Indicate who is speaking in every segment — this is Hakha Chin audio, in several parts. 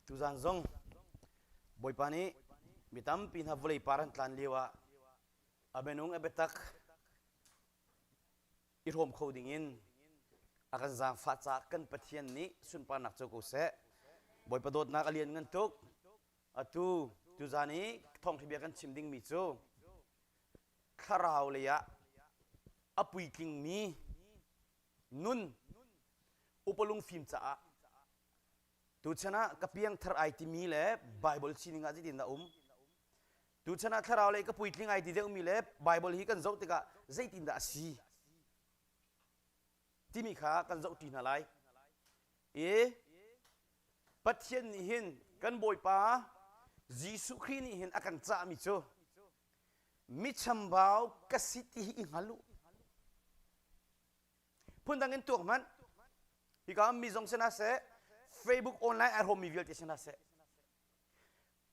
Speaker 1: Tuzaan zong Bawipa nih mi tampi hna vawlei par an tlan lio ah a minung a biatak i hrawm kho ding in a kan zaangfah caah kan Pathian nih sunparnak cu ko seh. Bawipa dawtnak a lianngan tuk. Atu tuzan i thawngthabia kan chim dingmi cu thlarau lei ah a puitlingmi nun upalung fim caah tuchan ah ka piangthar ai timi le Baibal sining ah zeitin dah um? Tuchan ah thlarau lei ka puitling ai ti deuhmi le Baibal hi kan zoh tikah zeitin dah a si? timi kha kan zohṭi hna lai. I Pathian nih hin kan Bawipa Jesuh Khrih nih hin a kan cahmi cu michambau ka si ti hi i hngal u. Phundang in tuak hmanh. Hika mi zong si hna seh, Facebook online ai hrawmmi vialte si hna seh,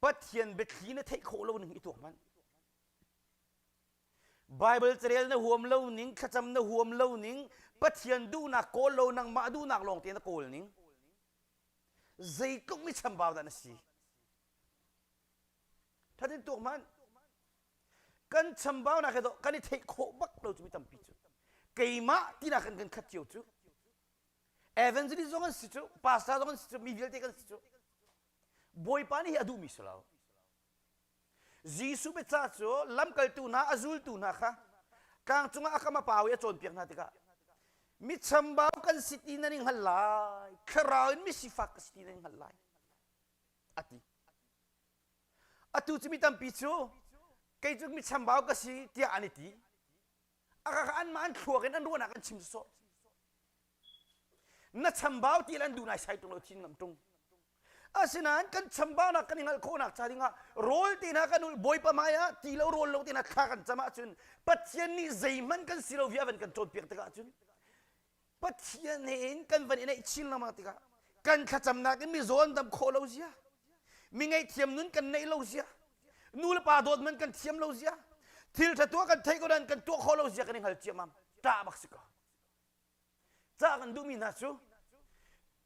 Speaker 1: Pathian biathli na theih khawh lo ning i tuak hmanh. Baibal carel na huam lo ning, thlacam na huam lo ning, Pathian duhnak kawl lo nangmah duhnak lawng tein na kawl ning. Zeitluk mi chambau dah na si. Thatin tuk hmanh. Kan chambau nak he do kan i theih khawh bak lo cu mi tampi cu. Keimah tinak kan kan khat cio cu. Evangelist zong an si cu, pastor zong an si cu, mi vialte kan si cu. Bawipa nih hi a duhmi si lo. Jesuh biaca cu lamkaltu hna a zultu hna kha tlang cungah a kam a pau i a cawnpiak hna tikah mi chambau kan si ti nan i hngal lai thlarau in misifak ka si ti nan i hngal lai a ti atu cu mi tampi cu kei cu mi chambau ka si tiah an i ti a ka anmah an thluak in an ruahnak an chim sawsawh na chambau ti lan du nai sai tung lo chin ngam tung asinain kan chambaunak kan i ngalh khawhnak ca dingah rawl te na kan ul bawipa mai ah ti lo rawl lo te na thla kan cam ahcun pathian nih zeihman kan si lo via van kan cawnpiak tikah ahcun pathian he in kan van i neih chin lama tikah kan thlacamnak in mi zawn dam khawh lo zia mi ngaihthiam nun kan neih lo zia nu le pa dawt man kan thiam lo zia thil thatua kan thei ko nan kan tuah khawh lo zia kan i hngal ciamam ta bak si ko Cah kan duhmi hna cu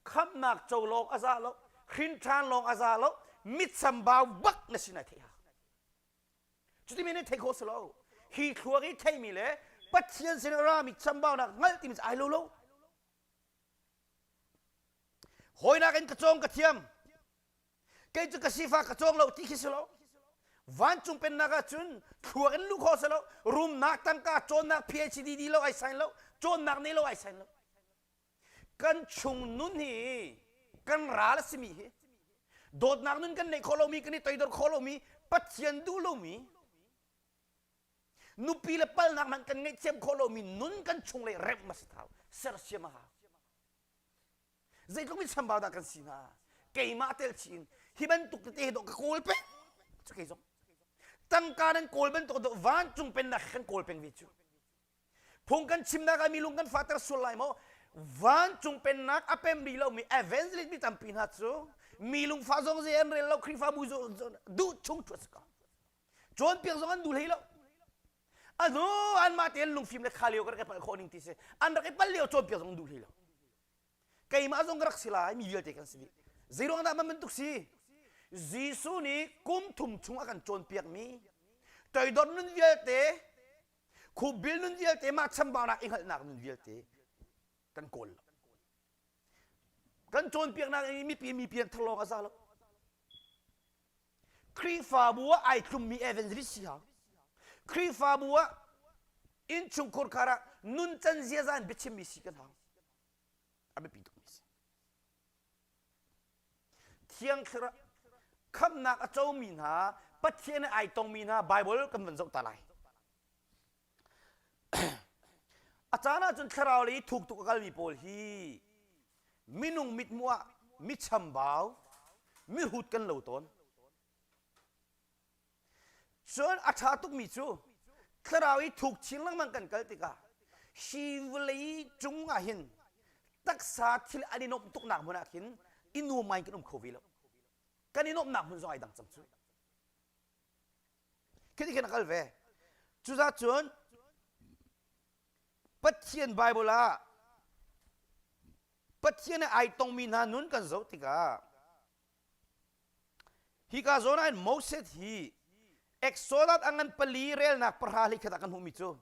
Speaker 1: khamnak co lawng a za lo, hrinṭhan lawng a za lo, mitsambau bak na sin ai theih hau. Cuti men in thei khawh si lo. Hi thluak i theimi le Pathian sin i rami chambaunak hngalh timi cu ai lo lo. Hawinak in ka cawng ka thiam. kei cu ka sifa ka cawng lo ti khi si lo vancung pennak ah cun thluak in lu kho si lo rumnak tangka cawnnak phcdd lo ai sain lo cawnnak ne lo ai sain lo kan chung nun hi kan ral a simi hi dawtnak nun kan neih khawh lomi kan i toidor khawh lomi pathian duh lomi nupi le palnak hmanh kan ngeih thiam khawh lomi nun kan chung le remh mas thau sersiam a hau zeitluk in chambau dah kan si hna keimah tel chin hi bantuk tete dawh ka kawl peng cu kei zong tangka nan kawl bantuk dawh vancung pen nak kan kawl peng vi cu phung kan chim nak ah mi lung kan fater sual lai maw vancung pennak a pem rih lomi evangelist mi tampi hna cu mi lungfa zong zei an rel lo khrihfabu duh chung chuah si ko cawnpiak zong an dul hlei lo anu anmah tein lungfim le kha lio ka rak i palh khawh ning ti si an rak i pal lio cawn piak zong duh hlei lo keimah zong ka rak si lai mi vialte kan si dih zeiruang dah man bantuk si Jesuh nih kum thum chung a kan cawnpiak mi toidor nun vialte khupbil nun vialte mah chambaunak i hngalhnak nun vialte kan kawl lo kan cawnpiaknak i mipi mipi an thar lawng a za lo Khrihfabu ah ai tlummi evangelist si hau. Khrihfabu ah innchungkhur khar ah nuncan ziaza in biachimmi si kan hau. A biapi tukmi si. Thiang thlarau khamnak a comi hna, Pathian i ai tongmi hna Baibal kan van zoh ta lai. A caan ahcun thlarau lei i thuk tuk a kalmi pawl hi minung mithmuh ah mi chambau, mi hut kan lo tawn. Cun a ṭha tukmi cu thlarau i thuk chin lengmang kan kal tikah hi vawlei cung ah hin taksa thil an i nuamh tuknak hmun ah khin i nuam ngai in kan um kho ve lo. Kan i nuamhnak hmun zong ai dang cang cu. Khi nih a kal ve. Cucaah cun Pathian Bible ah Pathian i ai tongmi hna nun kan zoh tikah hika zawn ah Moses hi Exodus a ngan pali relnak pahra hleikhat ah kan hmuhmi cu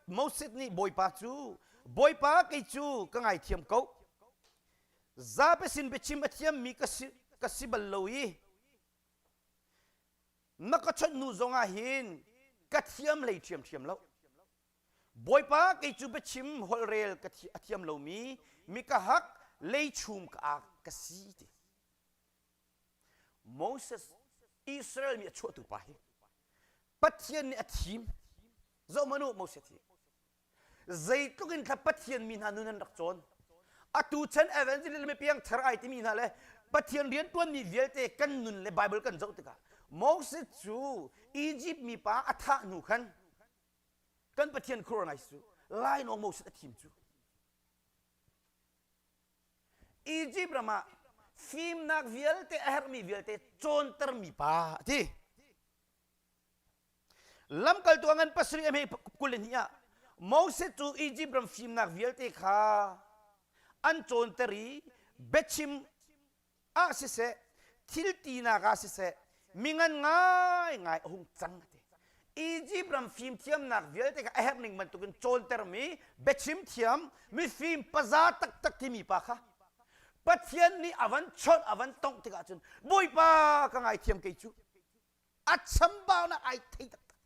Speaker 1: Moses nih Bawipa cu Bawipa kei cu ka ngaithiam ko zapesin biachim a thiammi ka si bal lo i na ka chawnh hnu zongah hin ka thiam lei ṭhiamṭhiam lo bawipa kei cu biachim holhrel ka a thiam lomi mika hak lei chum ka ak ka si ti Moses Israel mi a chuahtu pa hi Pathian nih a thim zohmanu Moses hi zeitluk in thla pathian mi hna nun an rak cawn atu chan evangelist le piang thar ai timi hna le pathian riantuan mi vialte kan nun le bible kan zoh tikah moses cu egypt mi pa a thah hnu khan kan pathian khuranize cu lainawng moses a thim cu egypt ram ah fimnak vialte a herhmi vialte cawnter mi pa a ti lamkaltu ah ngan pasarih a hme kul le hnih ah Moses cu Izipt ram fimnak vialte kha an cawnter i biachim ah siseh thil tinak ah siseh mi ngan ngaingai a hung cang ati Izipt ram fimthiamnak vialte kha a herh ning bantukin cawntermi biachim thiam mifim paza taktak timi pa kha Pathian nih a van chawnh a van tongh tikah cun Bawipa ka ngaithiam kei cu a chambaunak ai thei taktak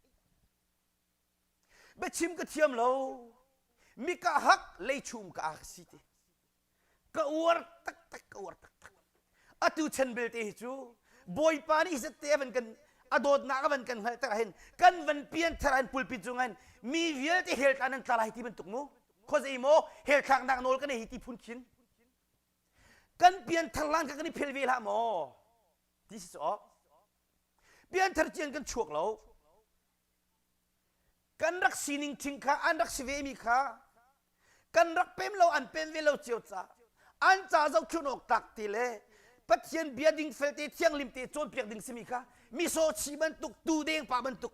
Speaker 1: biachim ka thiam lo mi ka hak lei chum ka ka si te ka uar taktak ka uar taktak atu chan belte hi cu bawipa nih zette van kan a dawtnak van kan hngalh tak hin kan van pian thar an pulpit cung an mi vialte hel tla nan tla lai ti bantuk mu khozei mo hel thlak nak nawl kan ei ti phun khin kan pian thar lan ka kan i phel ve la maw This is all. Pianthar cian kan chuak lo. Kan rak sining thing kha an rak si ve mi kha kan rak pem lo an pem ve lo cio ca an ca zohkhun awk tak ti le pathian bia ding fel te thianglim te cawn piak ding simi kha miso chi bantuk tu deng pa bantuk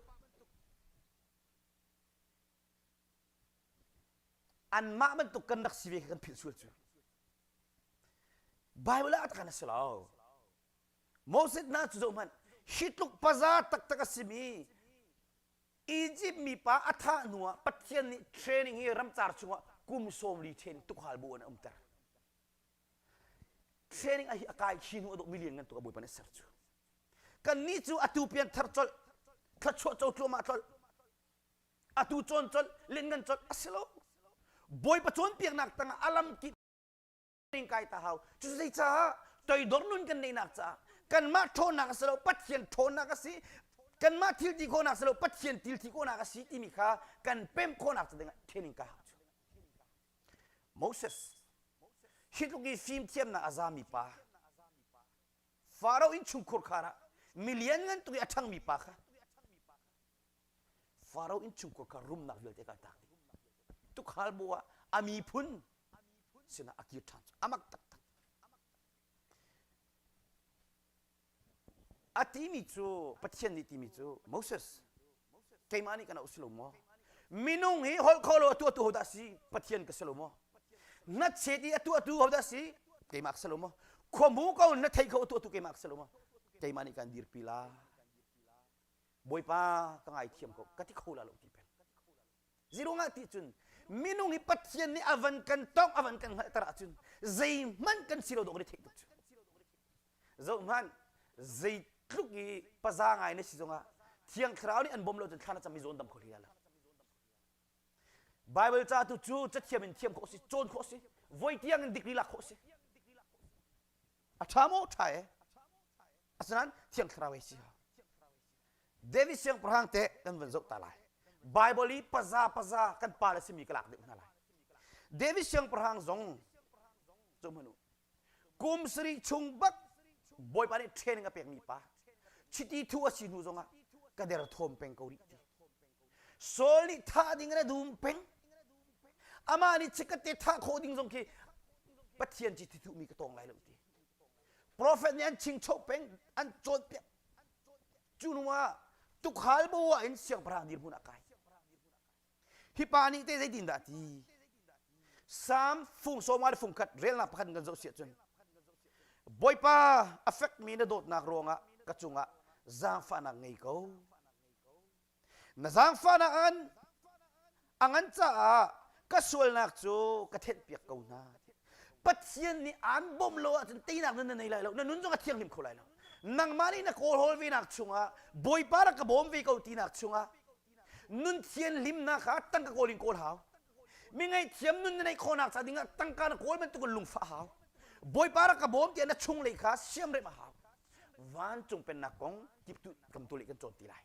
Speaker 1: anmah bantuk kan rak si ve kha kan philh sual cu Baibal ah atkan a si lo Moses hna cu zohhmanh hi tluk paza taktak a simi Egypt mipa a thah hnu ah Pathian nih training hi ramcar chungah kum sawmli ṭhen tukhal bu in a umter training a hi a kai khi hnu a duk million ngan tuk a bawipa nih ser cu kannih cu atu pian thar colh thla chuah co tluahmah tlolh atu cuan colh lianngan colh a si lo bawipa cawnpiaknak tangah a lam kip ning kai ta hau cu zei caah toidor nun kan neihnak caah kanmah ṭhawnnak a si lo pathian ṭhawnnak a si kanmah thil ti khawhnak si lo pathian thil thi khawhnak a si timi kha kan pem khawhnak cu dingah training ka hau cu Moses hi tluk i fim thiamnak a zami pa Farao in chungkhur khar ah milian ngan tuk i a ṭhangmi pa kha Faro innchungkhar kha rumnak vialte kha a taak dih. Tukhal bu ah a miphun sinah a kir ṭhan cu amak taktak. A timi cu Pathian nih timi cu Moses keimah nih kana u si lo maw? Minung hi holh kho lo atu atu hodah si Pathian ka si lo maw? Na chet i atu atu hodah si keimah ka si lo maw? Khuamu ko na thei kho atu atu keimah ka si lo maw? Keimah nih kan dirpi lai. Bawipa ka ngaithiam ko ka ti kho la lo ti peng. Ziru ngah ti cun minung hi Pathian nih a van kan tongh a van kan hngalhter ahcun zeihmanh kan si lo dawh kan i theih tuk cu. Zoh hmanh zeitluk i paza ngai na si zongah Thiang Thlarau nih an bawm lo cun thlan a cam i zawn dam kho hli lo. Baibal ca tu cu cathiam in thiam khawh a si, cawn khawh a si, voi tiang in dikri lak khawh a si. a ṭha maw ṭha e asinain thiang thlarau ei si ha david siangpahrang te kan van zoh ta lai bible i paza paza kan pa le simi ka lak deuh hna lai david siangpahrang zong cu hmanu kum sarih chung bat bawipa nih training a pekmi pa chiti thu a si hnu zongah ka der thawm peng ko rih ti Saul nih thah ding in a dum peng. Amah nih chikkate thah khawh ding zong khi Pathian ci thithumi ka tawng lai lo ti. Profet nih an chingchoh peng, an cawnpiak. Cu hnu ah tukhal boa in siangpahrang dirhmun ah kai. Hi pa nih te zeitin dah ti? Psalm fung sawma le fung khat relnak pakhat in kan zoh si ahcun Bawipa a fekmi na dawtnak ruangah ka cungah zaangfahnak ngei ko. Na zaangfahnak a ngan a ngan caah ka sualnak cu ka thenhpiak ko hna. Pathian nih aan bawmh lo ahcun teinak nan na nei lai lo. Na nun zong a thianghlim kho lai lo. Nangmah nih na kawl hawl venak chungah Bawipa rak ka bawm ve ko tinak chungah nun thianhlimnak kha tangka kawl in kawl hau. Mi ngaihthiam nun na neih khawhnak ca dingah tangka na kawl bantukin lungfah hau. Bawipa rak ka bawm tiah na chunglei kha siamrem a hau. Vancung pennak kong timtu kan tu leh kan cawn ti lai.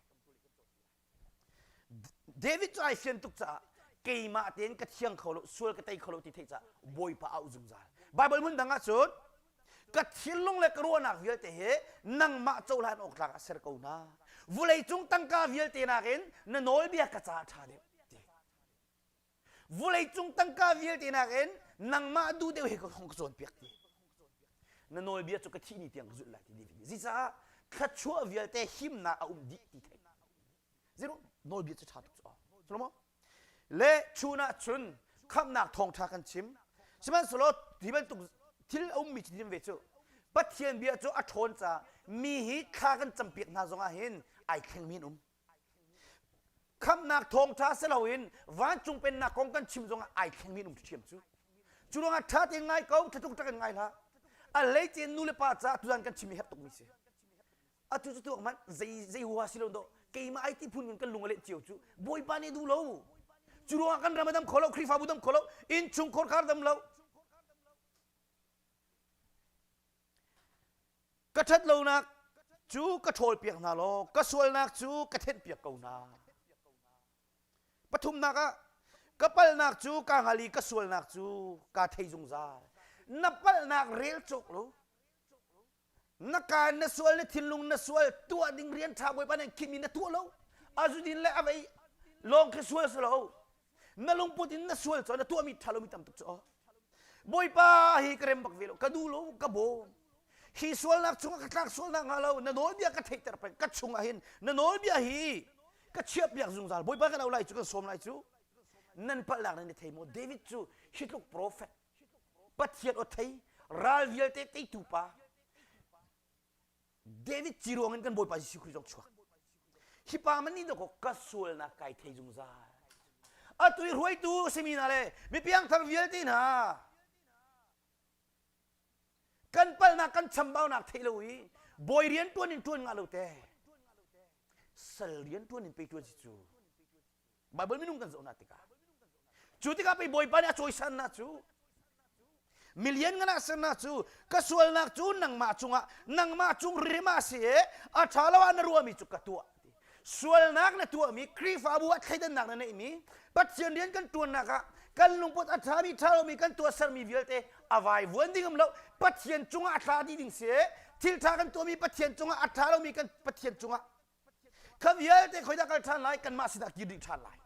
Speaker 1: David cu ai fian tuk caah keimah tein ka thiang kho lo sual ka tei kho lo ti theih caah Bawipa auh zungzal. Baibal hmun dang ah cun ka thinlung le ka ruahnak vialte hi nangmah cohlan awk tlak ah ser ko hna. Vulei cung tangka vialte nakin na nawlbia ka caah ṭha deuh. vulei cung tangka vialte nakin nangmah duh deuh he ka hong ka cawnpiak ti na nawlbia cu ka thih ni tiang ka zulh lai ti ni zicaah thluachuah vialte himnak a um dih ti thei zero nawlbia cu ṭha tuk cu Solomon le chun ah cun khamhnak thawngṭha kan chim sihmanhsehlaw hi bantuk thil a ummi chinhim ve cu Pathian bia cu a ṭhawn caah mi hi thla kan campiak hna zongah hin ai thlengmi an um khamnak thawngṭha si loin vancung pennak kong kan chim zongah ai thlengmi an um ṭhiam cu cu ruangah ṭha tein ngai ko thlatluk ṭak in ngai hlah a leice nu le pa caah tuzan kan chim hi herh tukmi si atu cu tu hmanh zei zei hua si lo do keimah ai ti phun kun kan lung a leh cio cu bawipa nih duh lo cu ruangah kan ram a dam kho lo khrihfabu dam kho lo innchung khorkhar dam lo ka ṭhat lonak cu ka ṭhawlpiak hna law ka sualnak cu ka thenhpiak ko hna. Pathumnak ah ka palnak cu ka hngal i ka sualnak cu ka thei zungzal. Na palnak rel cawk lo. Na kaan na sual na thinlung na sual tuah ding rian ṭha bawipa nih khim in na tuah lo. A zudin le a vei lawng khi sual si lo. na lungput in na sual cu na tuahmi ṭhalomi tam tuk cu aw bawipa hi ka rem bak ve lo ka duh lo ka bawm hi sualnak chungah ka tlak sualnak hnga lo na nawlbia ka theihter peng ka chungah hin na nawlbia hi ka chiahpiak zungzal bawipa ka no lai cu kan sawm lai cu nan palhnak nan i thei maw david cu hitluk profet pathian aw thei ral vialte teitu pa David ci ruangin kan Bawipa Jesuh Khrih zong chuak hi pa man nih dawkaw ka sualnak kai thei zungzal atu i hruaitu simi hna le mipiangthar vialte hna kan palnak kan chambaunak thei lo i bawi rian tuan in tuan nga lo te sal rian tuan in pe tuan si cu Baibal minung kan zohnak tikah cu tikah pei Bawipa nih a cawisannak cu milian a sernak cu ka sualnak cu nangmah cungah nangmah cung rim a si i a ṭha lo ah na ruahmi cu ka tuah sualnak na tuahmi Khrihfabu ah thleidannak na neihmi Pathian rian kan ṭuannak ah kan lungput a ṭhami ṭha lomi kan tuah sermi vialte a vuan ding lo Pathian cungah a thla dih ding si thil ṭha kan tuahmi Pathian cungah a ṭha lomi kan Pathian cungah Kan vialte khoidah kal ṭhan lai kanmah sinah kir dih ṭhan lai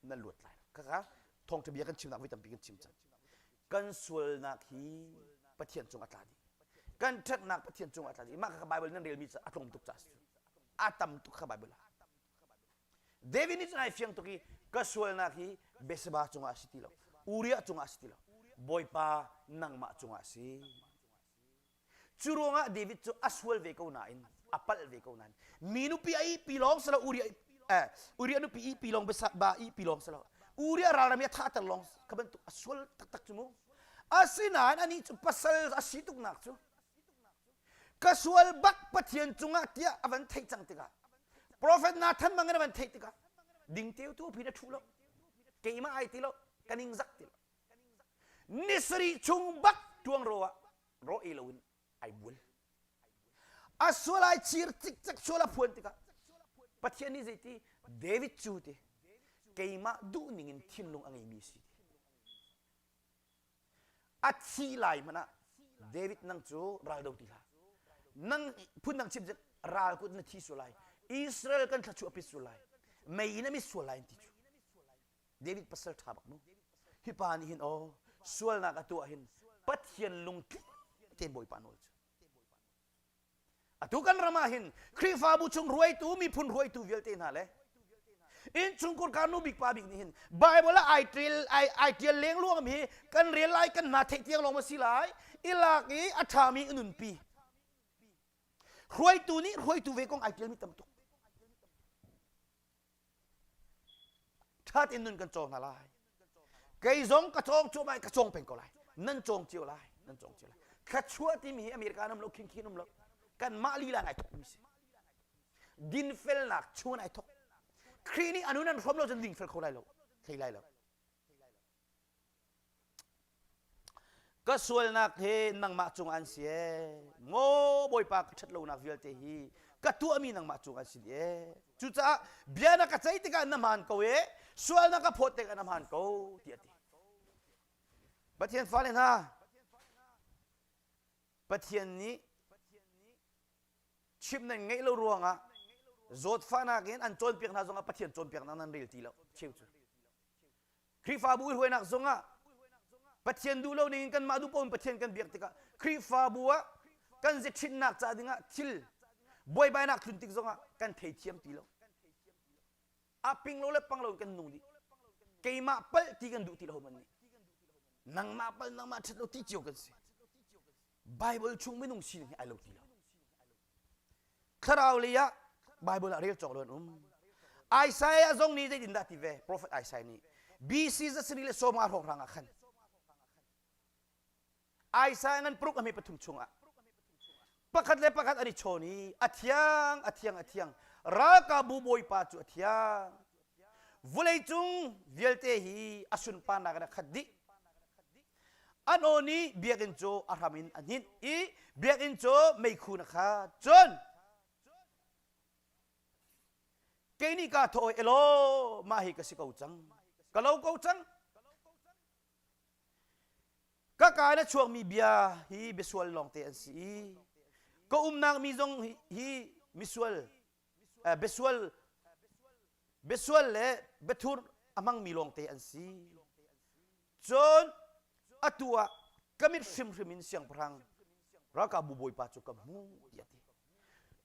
Speaker 1: nan luat lai kaka thawngṭha bia kan chimnak voi tampi kan chim cang kan sualnak hi Pathian cung a tla dih kan ṭhatnak Pathian cung a tla dih mah kha Bible nan relmi a tlawm tuk ca a tam tuk kha Bible ah David nih cun ai fiang tuk i ka sualnak hi Beseba cungah a si ti lo Uriah cungah a si ti lo Bawipa nangmah cungah a si Cu ruangah David cu a sual ve ko nain a palh ve ko nain mi nupi a ih pi lawng si lo Uriah eh, Uriah nupi ih pi lawng ba ih pi lawng si lo Uriah ralram i a thahter lawng ka bantuk a sual taktak cu mu asinain anih cu pasal a si tuknak cu ka sual bak Pathian cungah tiah a van theih cang tikah profet Nathan bangin a van theih tikah ding teu tu pin a thu lo keimah ai ti lo ka ning zak ti lo ni sarih chung bak tuang ro ah rawh ei loin ai mual a sual ai chir cikcek sual a phuan tikah Pathian nih zeiti David cu ti keimah duhning in thinlung a ngeimi si ti a thi lai hmanh ah David nang cu ral do ti hlah nang phun nang chim cun ral kut na thi sual lai Israel kan thla chuah pit sual lai mei in a mit sual lai an ti cu David pasal ṭha bak mu. Hi pa nih hin aw sualnak a tuah hin Pathian lungtli te Bawipa nawl cu. Atu kan ram ah hin Khrihfabu chung ruaitu miphun ruaitu vialte hna le inn chungkur kanu bik pa bik nih hin Bible ah ai ṭial ai, ai ṭial lengluang mi kan rel lai kan hna theih tiang lawng a si lai i lak i a ṭha mi a nunpi ruaitu nih ruaitu ve kong ai ṭial mi tam tuk ṭhat in nun kan cawng hna lai kei zong ka cawng cuah ka cawng peng ko lai nan cawng cio lai nan cawng cio lai thluachuah timi hi america an um lo khinkhin um lo kanmah lila in ai thokmi si dinfelnak chung in ai thok khrih nih anu nan hrawm lo cun dingfel kho lai lo thei lai lo ka sualnak hi nangmah cung an si ee ngaw bawipa ka ṭhat lonak vialte hi ka tuahmi nangmah cung an si ee cucaah bia na ka ceih tikah na hmaan ko ee sual na ka phawt tikah na hmaan ko tiah a ti Pathian fale hna Pathian nih chim nan ngeih lo ruangah zawtfahnak in an cawnpiak hna zongah Pathian cawnpiaknak nan rel ti lo cheu cu Khrihfabu i hruainak zongah Pathian duh lo ning in kanmah duh paoh in Pathian kan biak tikah Khrihfabu ah kan zethrinnak ca dingah thil buaibainak tlun tik zongah kan thei thiam ti lo. A ping lo le pang lo in kan nung dih. Keimah pal ti kan duh ti lo homan nih. Nangmah pal nangmah ṭhat lo ti cio kan si. Bible chung minung sining hi ai lo ti lo. Thlarau lei ah Baibal ah rel cawk lo an um. Isaiah zong nih zeitindah a ti ve? Prophet Isaiah nih BC za sarih le sawma hrawnghrang ah khan Isaiah ngan paruk a hme pathum chungah pakhat le pakhat an i chawn i a thiang a thiang a thiang ralkapbu bawipa cu a thiang vulei cung vialte hi a sunparnak in a khat dih An aw nih biakinn cu a hram in a hninh i biakinn cu meikhu na khat. Cun kei nih kaa thawh elaw mah hi ka si ko cang. Ka lo ko cang. Ka ka na chuakmi bia hi bia sual lawngte an si i ka umnak mi zong hi, hi misual Besual besual le bethurh a hmangmi lawngte an si. Cun atu ah ka mit hrimhrim in siangpahrang ralkapbu bawipa cu ka hmu tiah a ti.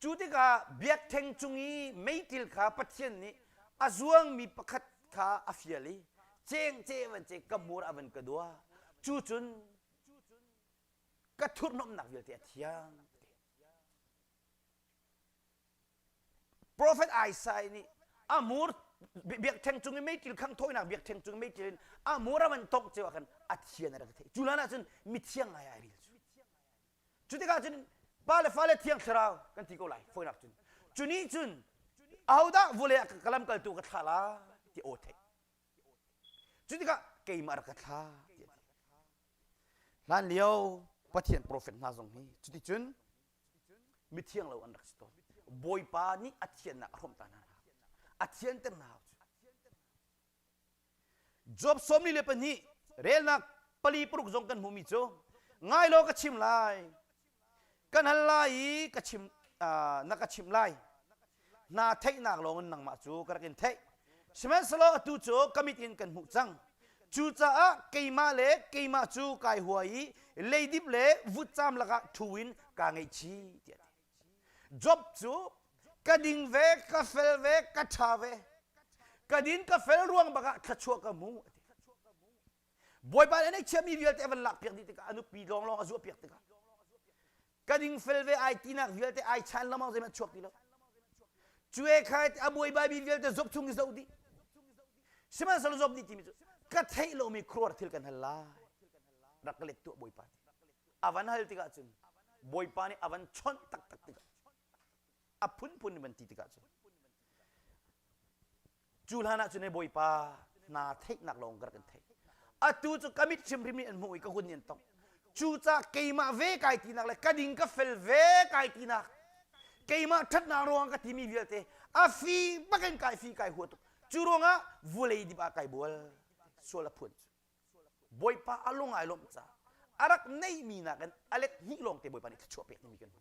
Speaker 1: Cu tikah biakṭheng cung i meitil kha Pathian nih a zuangmi pakhat kha a fial i cengcem an ceh ka hmur ah van ka dua cu cun ka thurhnomhnak vialte a thiang Profet Isaiah nih amur biakṭheng cung i meitil khang thawinak biakṭheng cung i meitil in amur a van tongh ceu ah khan a thian a rak theih cu lan ah cun mithiang ngai ai ril cu cu tikah cun pa le fale thiang thlarau kan ti ko lai fawinak cun cu nih cun ahodah vawlei ah ka lam kaltu ka thlah la ti aw theih cu tikah keimah rak ka thlah ti a ti hlan lio pathian profet hna zong hi cuticun mithiang lo an rak si tawn bawipa nih a thiannak a hrawmh ta hna hna a thianter hna job sawmli le pahnih relnak pali paruk zong kan hmuhmi cu ngai law ka chim lai kan hal lai i ka chim na ka chimh lai naa theihnak lawngin nangmah cu ka rak in theih. Sihmanhsehlaw atu cu ka mit in kan hmuh cang. Cucaah keimah le keimah cu kai hua i leidip le vutcaam lakah ṭhu in kaa ngaihchi tiah a ti. Job cu ka ding ve, ka fel ve, ka ṭha ve. Ka din ka fel ruang bakah thluachuah ka hmu a ti. Bawipa nih a neih chiami vialte a van lakpiak dih tikah a nupi lawnglawng a zuahpiak tikah ka dingfel ve ai tinak vialte ai chan lamang zeihmanh chuak ti lo cue khai a buai babi vialte zop chung i zoh dih sihmanhsehlaw zop dih timi cu ka theih lomi khuaruar thil kan hal lai rak ka let tuah bawipa nih a van hal tikah cun bawipa nih a van chonh taktak tikah a phunphun van ti tikah cun cu hlanah cun Bawipa hna theihnak lawng ka kan theih atu cu ka mit hrimhrim nih an hmuh i ka hun nih an tong cucaah keimah ve kai tinak le ka ding ka fel ve kai tinak keimah ṭhatnak ruangah ka timi vialte a fi bak in kai fi kai hua tuk cu ruangah vulei dip ah kai bual sual a phuan Bawipa a lung ai lawmh caah a rak neihmi nakin a let hnih lawng te Bawipa nih thluachuah pek nimi kan hmu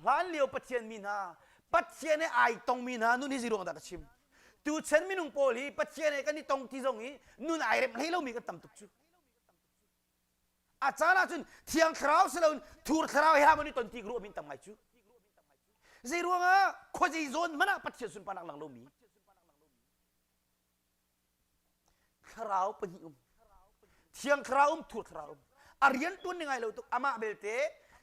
Speaker 1: Hlanlio Pathian mi hna, Pathian he ai tongmi hna nun hi zeiruang dah ka chim? Tuchan minung pawl hi Pathian he kan i tong ti zong i nun ai rem hlei lomi kan tam tuk cu. A caan ahcun thiang thlarau si loin thur thlarau he hamon i ton ti ruah min tam ngai cu. Zeiruangah khuazei zawn hmanh ah Pathian sunparnak lang lomi thlarau pahnih um thiang thlarau um thur thlarau um a rian tuan ni ngai lo tuk amah belte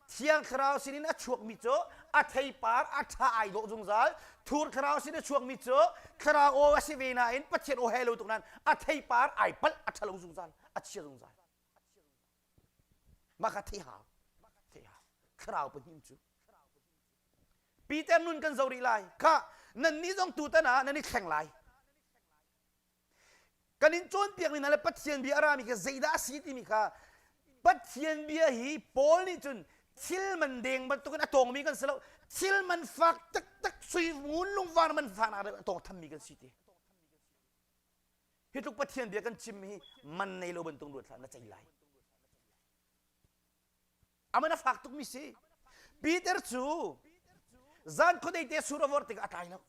Speaker 1: thiang thlarau sin in a chuakmi cu a theipar a tha ai dawh zungzal thur thlarau sin a chuakmi cu thlarau aw a si ve nain pathian aw he lo tuk nan a theipar ai palh a thalo zungzal a chia zungzal maka thei hau thei hau thlarau pahnih cu Peter nun kan zo rih lai. Khah, nannih zong tutan ah nan i thleng lai. Kan in cawnpiak ning le Pathian bia a rami kha zeidah a si timi kha Pathian bia hi Paul nih cun thil man deng bantukin a tawngmi kan si lo. Thil man fak taktak sui ngun lungvar man fanak a tawng thammi kan si ti. Hi tluk Pathian bia kan chim hi man nei lo bantuk ruat hlah na ceih lai. Aman a fak tukmi si. Peter cu zan khuadei te sur a vor tikah a tlai lo.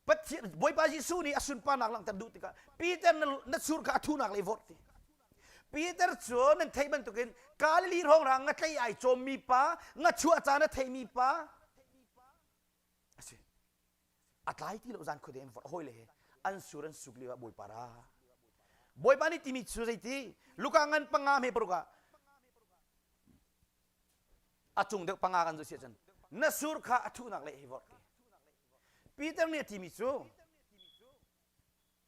Speaker 1: Pathian Bawipa Jesuh nih a sunparnak langhter duh tikah Peter na sur kha a thunak le vort ti. Peter cu nan theih bantukin Galilee rongrang nga tlei ai cawmmi pa, nga chuah caan a theimi pa, a tlai ti lo zan khuade in hoi le he an sur an suk lio ah bawipa ra bawipa nih timi cu zeiti luka ngan panga me paruk ah a cung deuh panga kan zo sia cun na sur kha a thuhnak le hi vorh Peter nih a timi cu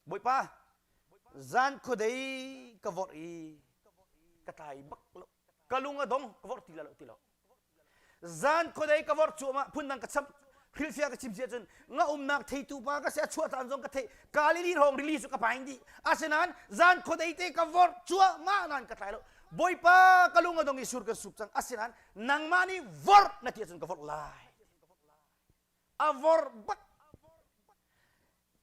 Speaker 1: Bawipa zan khuadei ka vorh i ka tlai bak lo ka lung a dong ka vorh ti lo ti lo zan khuadei ka vorh cuahmah phundang ka cham hrilfia ka chim si ahcun nga umnak theitu pa ka si a chuah caan zong ka thei Galilee hrawng rili cu ka paing dih asinain zan khuadei te ka vorh cuahmah nan ka tlai lo Bawipa ka lung a dong i sur ka sup cang asinain nangmah nih vorh na ti ahcun ka vorh lai a vorh bak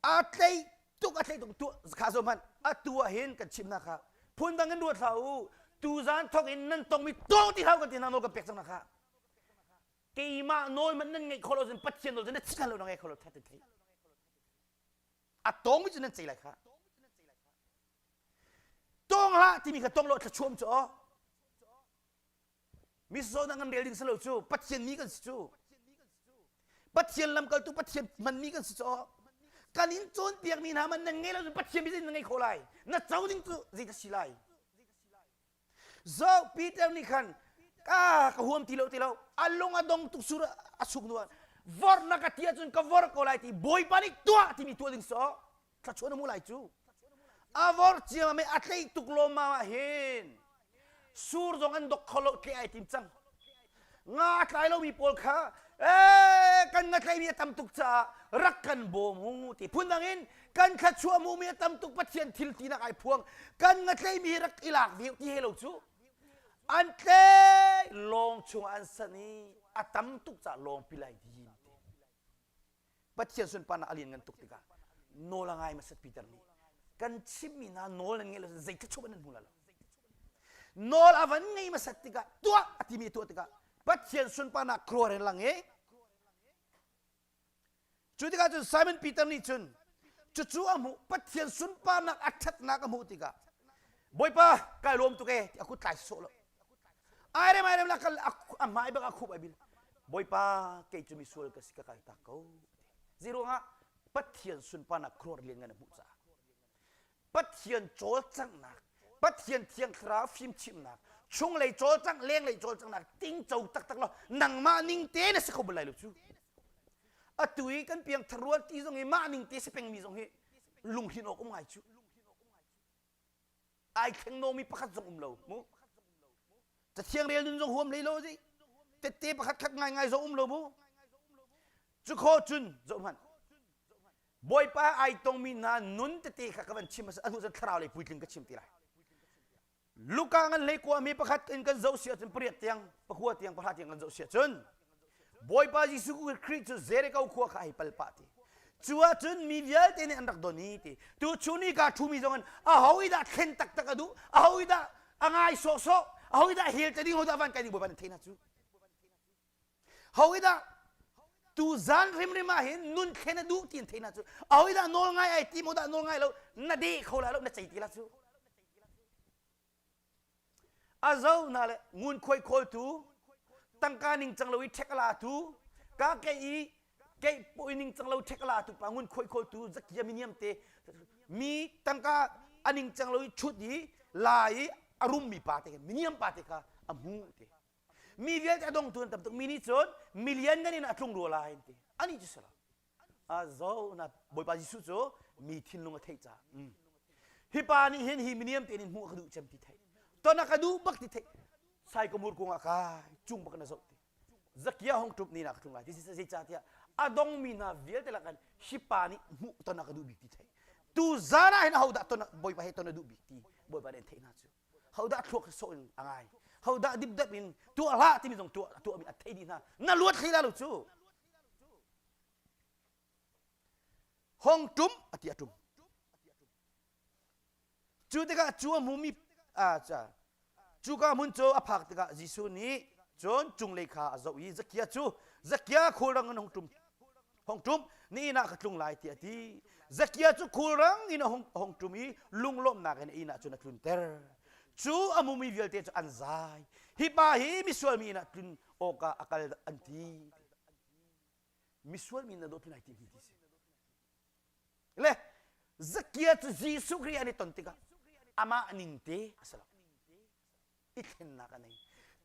Speaker 1: a tlei tuk a tlei tuk tu kha zo hmanh atu ah hin kan chim na kha phundang in ruat hlah u tuzan thong in nan tongmi tong ti hau kan ti nang nawl kan pek cang na kha keimah nawl man nan ngeih kholo cun pathian nawl cu na chika lo na ngeih kholo that thei a tongmi cu nan cei lai kha tong hlah timi kha tong lo thlachuam cu aw mi zawnah kan rel ding si lo cu Pathian mi kan si cu Pathian lamkaltu Pathian hmanmi kan si caw kan in cawnpiak mi hna man na ngei lo Pathian mi na ngei kho lai na co ding cu zei si lai Zok Peter nih khan ka ka huam ti lo ti lo a lung a dong tuk sur a suk nuan vor na ka ti ahcun ka vor ko lai ti bawipa nih tuah timi tuah ding so thlachuan a mu lai cu avor ciama me a tlei tuk lawma ah hin sur zong an dok kho lo tle ai tim cang nga tlai lomi pawl kha eh kan nga tlei mi a tam tuk caah rak kan bawm u ti phun dang in kan thluachuah mu mi a tam tuk pathian thil ti nak ai phuang kan nga tlei mi rak i lak vi ti he lo cu an tlei lawng chung an san i a tam tuk ca lawng pi lai din Pathian sunparnak a lianngan tuk tikah nawl a ngai masat Peter nih kan chimmi hna nawl nan ngaih lo zei thluachuah nan hmu lo nawl a van ngei masat tikah tuah a timi tuah tikah Pathian sunparnak khuaruah in lang i cu tikah cun Simon Peter nih cun cucu a hmuh Pathian sunparnak a ṭhatnak a hmuh tikah Bawipa kai lawm tuk e ti a kut tlai sawh lo Ai rem ai rem la kal amai bak akhup ai bil. Bawipa kei cu misual ka si ka kal tak ko. Zi ruangah Pathian sunparnak khuar lian ngan a hmuh caah. Pathian cawlcanghnak, Pathian thiang thlarau fimchimnak, chung lei cawlcang, leng lei cawlcanghnak, tingco taktak lo, nangmah ning te na si kho bal lai lo cu. Atu i kan piangthar rual ti zong hi mah ning te si pengmi zong hi lunghlin awk um ngai cu. ai thleng nomi pakhat zong um lo mu cathiang rel nun zong huam hlei lo zi tette pakhat khat ngaingai zong um lo mu cu kho cun zoh hmanh bawipa ai tongmi hna nun tete kha ka van chim a hnu zan thlarau lei puitling ka chim ti lai luka ngan hlei kua mi pakhat in kan zoh si ahcun pariat tiang pakhua tiang pahra tiang kan zoh si ahcun Bawipa Jesuh Khrih cu Jericho khua kha hei pal pah ti cu ahcun mi vialte nih an rak don i ti tu chun i kaa ṭhumi zongin aho i dah thlen taktak a duh aho i dah a ngai sawhsawh aho i dah hel te ding ho dah van kai ding bawipa nan theih hna cu ho i dah tu zan hrimhrim ah hin nun thlen a duh ti an theih hna cu aho i dah nawl ngai ai ti mo dah nawl ngai lo na deh kho lai lo na cei ti la cu a zo hna le ngun khuai khawl tu tangka ning cang lo i ṭhek la tu ka ke i ke pawi ning cang lo ṭhek la tu pa ngun khuai khawl tu zakia miniam te mi tangka a ning cang lo i ṭhut i la i a rum mi pa te miniam pa te kha a hmu te mi vialte a dong tuan tam tuk mi nih cun milian ngan in a tlung rua lai an ti ani cu sala Zo na Bawipa Jesuh cu mi thinlung a theih caah mm. hi pa nih hin hi miniam te nih hmuh ka duh cem ti thei ton a ka duh bak ti thei sai komur kung ah kai chung bak na zoh ti zakia hong trup ni na ka tlung lai ti zei ca tiah a dong mi hna vialte lak an hi pa nih hmuh ton a ka duh bik ti thei tu zana hin ho dah ton bawipa he ton a duh bik ti bawipa nih an theih hna cu hodah thluak hi sawh in a ngai hodah dipdep in tuah hlah timi zong tuah tuahmi a thei dih hna na luat hlei la lo cu hong ṭum a ti a ṭum cu tikah cu a hmumi cuka hmun cu a phak tikah Jesuh nih cun cunglei kha a zoh i zakia cu zakia khulrang in hong ṭum hong ṭum na inn ah ka tlung lai tiah a ti zakia cu khulrang in a hung, hong ṭum i lunglawmhnak in a inn ah cun a tlunter cu a mumi vialte cu an zai hi pa hi misual mi inn ah tlun awkah a kal an ti misual mi inn ah dawhtu nai tim hi ti si le zakia cu Jesuh Khrih an i ton tikah amah ning te a si lo i thlennak a nei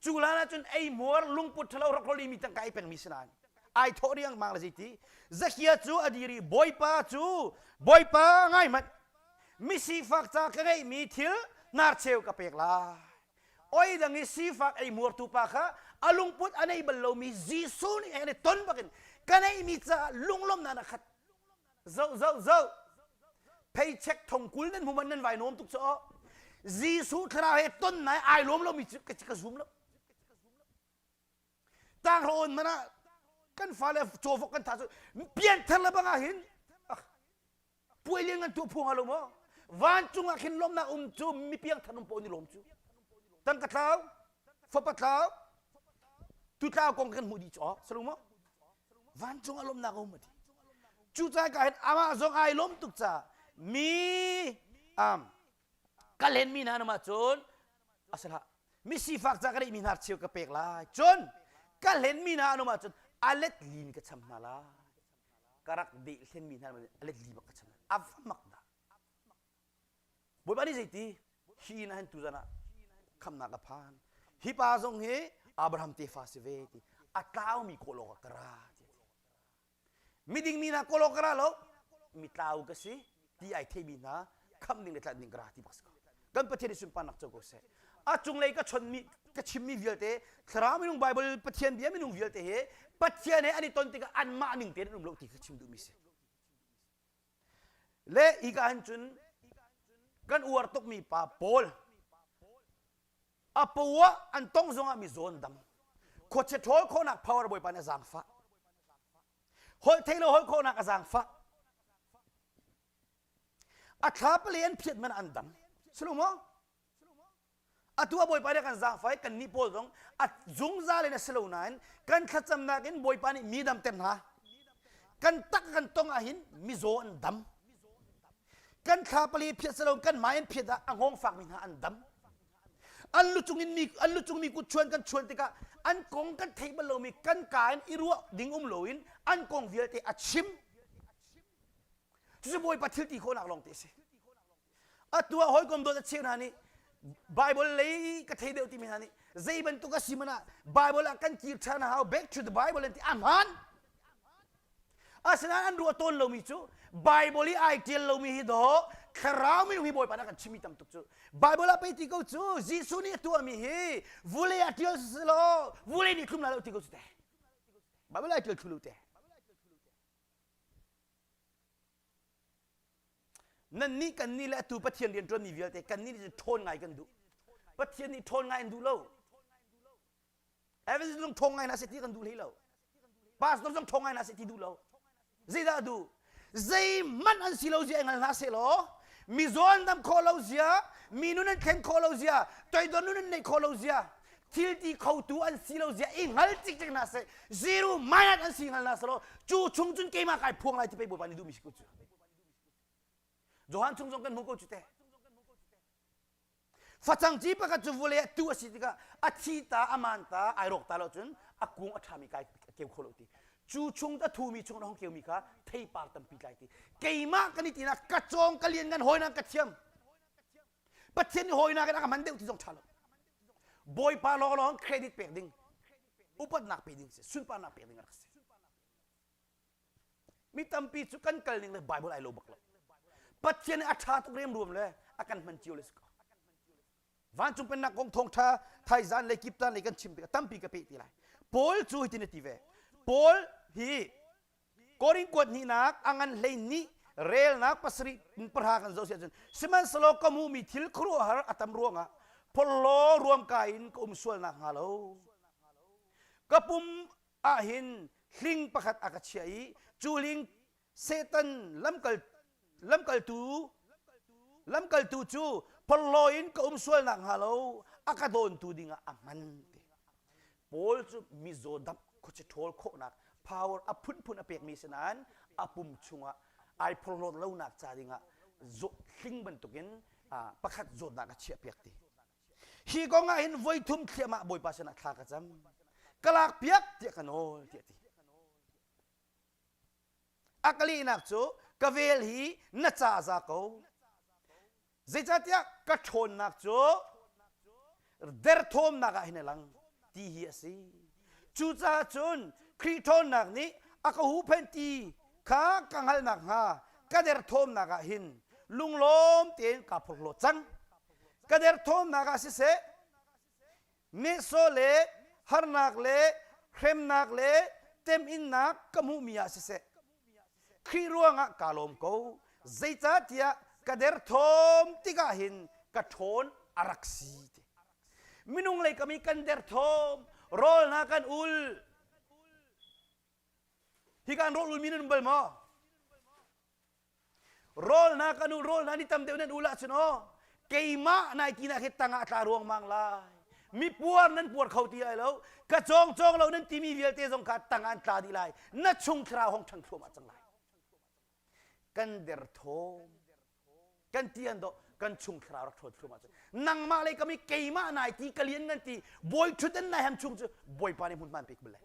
Speaker 1: cu lan ahcun eihmuar lungput ṭhalo rakrol i mi tangka i pengmi si nain ai thawh riangmang le zeiti zakia cu a dir i bawipa cu bawipa ngai hmanh misifak ca ka ngeihmi thil narcheu ka pek lai oi dang i sifak ei muartu pa kha a lungput a nei bal lomi Jesuh nih heng ton bakin ka neihmi caah lunglawmhnak a khat zoh zoh zoh pheichek thong kul nan hmuman nan vai nuam tuk cu Jesuh thlarau he ton nai ai lom lo mi cu ka ka zum lo tang ro on mana kan fale chawfok kan tha cu pian thar la banga hin puai lian ngan tu phuang lo mo van chung ah khin lom nak um cu mi piang thanum po ni lom cu tang ka thau fapa tlau tu tlau kong kan hmuh dih cu salung maw vancung alawmnak a um ati cu cai ka hin amah zong ai lawm tuk ca mi am ka len mi hna namah cun asala mi sifak ca ka rih mi hnar cheu ka pek lai cun ka hlen mi hna namah cun alet lin ka cham hna lai karak deh hlen mi hna namah alet li bak ka cham a vamak da Bawipa nih zeiti hi inn a hentu zan ah khamnak a phan hi pa zong hi Abraham tefa si ve ti a tlaumi kawlawg ah ka ra miding mi hna kawlawg ka ra lo mi tlau ka si ti ai theimi hna khamh ding le tlanh ding ka ra ti bak si ko kan pathian i sunparnak co ko seh a cunglei ka chonmi ka chimmi vialte thlarau minung Bible pathian bia minung vialte hi pathian he an i ton tikah anmah ning tein an um lo ti ka chim duhmi si le hika an cun kan uar tukmi pa pawl a pu ah an tong zongah mi zawn dang khuache ṭhawl khawnak power bawipa nih a zaangfah holh thei lo holh khawnak a zaangfah a thla pali an phiat man an dang silo maw atu a bawipa nih kan zaangfai kannih pawl zong a zungzal in a si lo nain kan thlacamnak in bawipa nih mi dam tem hna kan tak kan tong ahhin mizaw an dam kan thla pali phiat si lo kan mah in phiat ah a ngong fakmi hna an dam an lu cung in mi an lu cung mi kut chuan kan chuan tikah an kong kan thei bal lomi kan ka in i ruah ding um loin an kong vialte a chim cucu bawipa thilti khawhnak lawng te a si atu ah hawikom dawt a cheu hna nih Bible lei ka thei deuh timi hna nih zei bantuk a si man ah Bible ah kan kir ṭhan a hau back to the Bible an ti a hmaan asinain an ruah tawn lomi cu Bible i ai ṭial lomi hi daw thlarau mi hi Bawipa na kan chimmi tam tuk cu Bible ah pei ti ko cu Jesuh nih a tuahmi hi vulei ah ṭial selaw vulei nih tlum la lo ti ko cu te Bible ai ṭial thlu lo te Nannih kannih le atu Pathian rian ṭuanmi vialte kannih nih ṭhawn ngai kan duh. Pathian nih ṭhawn ngai an duh lo. Evans zong ṭhawn ngai hna seh ti kan duh hlei lo. Pastor zong ṭhawn ngai hna seh ti duh lo. Zeidah a duh? Zeihmanh an si lo zia i hngal hna seh law, mi zawn dam khawh lo zia, mi nun an thlen khawh lo zia, toidor nun an neih khawh lo zia, thil ti khotu an si lo zia i hngal cikcek na se zero minus an si hngal na se lo cu chung cun keimah kai phuang lai ti pei bawipa nih duhmi si ko cu Johan chung zong kan hmu ko cu te facang ci pakhat cu vule a tu a si tikah a thi ta a man ta ai rawk ta lo cun a kung a ṭhami kai keu kho lo ti cu chung ta thumi chung hong keumi kha theipar tampi tlai ti keimah kan i tinak ka cawng ka lian ngan hoi nan ka thiam Pathian nih hawinak in a kan hman deuh ti zong ṭha lo. Bawipa lawnglawng credit pek ding, upatnak pe ding si, sunparnak pek ding a rak si. Mi tampi cu kan kal ning le Bible ai lo bak lo. Pathian nih a ṭha tuk riam ruam le a kan hman cio le si ko. Vancung pennak kong thawngṭha thaizan le kiptan lei kan chim tikah tampi ka peh ti lai. Paul cu hitin a ti ve. Paul hi Korin kuat hnihnak a ngan hlei nih relnak pasarih in pahra kan zoh si ahcun sihmanhsehlaw ka hmuhmi thil khuaruahhar a tam ruangah phorhlaw ruamka in ka um sual nakhnga lo ka pum ah hin hling pakhat a ka chiah i cu hling Satan lamkal lamkaltu lamkaltu cu porhlaw in ka um sual nakhnga lo a ka dawntu dingah a hman ti Paul cu mizaw dap khuaci ṭhawl khawhnak power a phunphun a pekmi si nain a pum chungah ai porhlawt lonak ca dingah hling bantukin pakhat zawtnak a chiahpiak ti hi kong ah hin voi thum thliahmah bawipa sinah thla ka cam ka lak piak tiah ka nawl tiah ti a ka lehnak cu ka vel hi na ca za ko zeicahtiah ka ṭhawnnak cu derthawmnak ah hin a lang ti hi a si cucaah cun Khrih ṭhawnnak nih a ka huhphenh ti kha ka hngalh nakhnga ka derthawmnak ah hin lunglawm tein kaa phurhlaw cang ka derthawmnak ah siseh nehsawh le harnak le hremnak le teminnak ka hmuhmi ah siseh Khrih ruangah kaa lawm ko zeicahtiah ka derthawm tikah hin ka ṭhawn a rak si ti minung lei kam i kan derthawm rawl hna kan ul Hi kan rawl ulmi nan um bal maw? Rawlhna kan u rawlhna ni tam deuh nan ul ahcun aw keimah nai tinak hi tangah tla ruangmang lai mi puar nan puar kho ti ai lo ka cawng cawng lo nan timi vialte zong kha tang an tla dih lai na chung thlarau hong ṭhan thluahmah cang lai kan derthawm kan ti an do kan chung khira rak ṭhuat thrum ahcun nangmah le kami keimah nai ti ka lian nan ti bawi ṭhuten nai ham chung cu bawipa nih hmun man pek bule